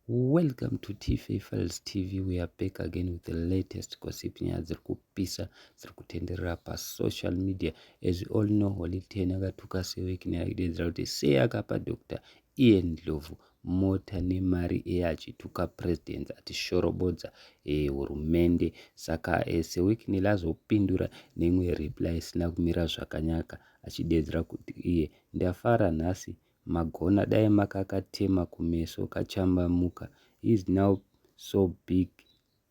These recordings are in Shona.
Welcome to TFA Files TV. We are back again with the latest gossip nyaya dziri kupisa dziri kutenderera pasocial media. As we all know, Holy Ten akatuka Sewek nyaya kudedzera kuti sei akapa Dr. Ian Ndlovu mota nemari eye achituka president atishorobodza eh, hurumende e, saka e, eh, Sewek Nile azopindura neimwe reply isina kumira zvakanaka achidedzera kuti iye ndafara nhasi magona dai makakatema kumeso kachambamuka he's now so big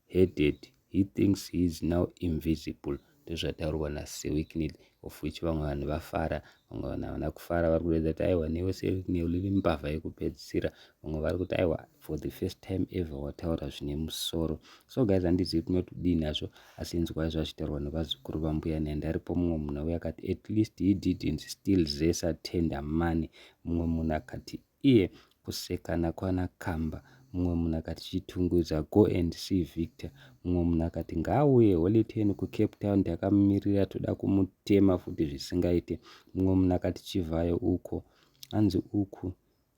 headed he thinks he's now invisible ndozvataurwa nasewicknel of which vamwe vanhu vafara vamwe vanhu havana kufara vari kuredza kuti aiwa newe sewicknel iri mbavha yekupedzisira vamwe vari kuti aiwa for the first time ever wataura zvine musoro so guys handizivi kuti notidii nazvo Asi inzwai zvachitaurwa nevazukuru vambuya Nandi aripo mumwe munhu auya akati at least he didn't steal Zesa tender money mumwe munhu akati iye kusekana kwana Kamba mumwe munhu akati chitungwiza go and see Victor mumwe munhu akati ngaauye holy ten kucape town takamumirira toda kumutema futi zvisingaite mumwe munhu akati chivhayo uko hanzi uku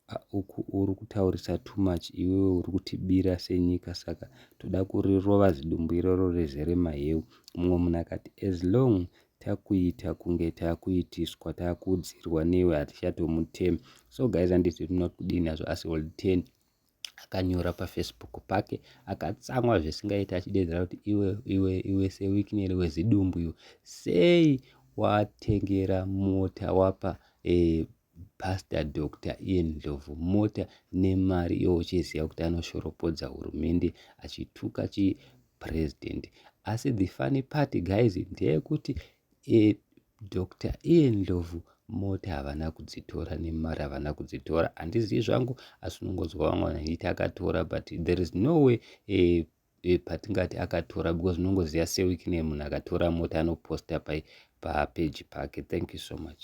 Haa uku uri kutaurisa too much iwewe uri kutibira senyika saka toda kurirova zidumbu iroro rezere maheu. Mumwe munhu akati as long takuita kunge takuitiswa takuudzirwa newe hatichatomutemi. So guys handiti tinoda kudini hazvo asi old 10 akanyora pafacebook pake akatsamwa zvisingaita achidedzera kuti iwe iwe iwe sewikineri wezidumbu iwe sei watengera mota wapa e, Pastor Doctor iye Ndlovu mota nemari iwo uchiziva kuti anoshoropodza hurumende achituka chi president asi the funny part guys ndeyekuti e, eh, Doctor iye Ndlovu mota havana kudzitora nemari havana kudzitora handizivi zvangu asi unongonzwa vamwe vanhu vachiti akatora but there is no way e, e, patingati akatora because unongoziva sewikine munhu akatora mota anoposta pai papeji pake thank you so much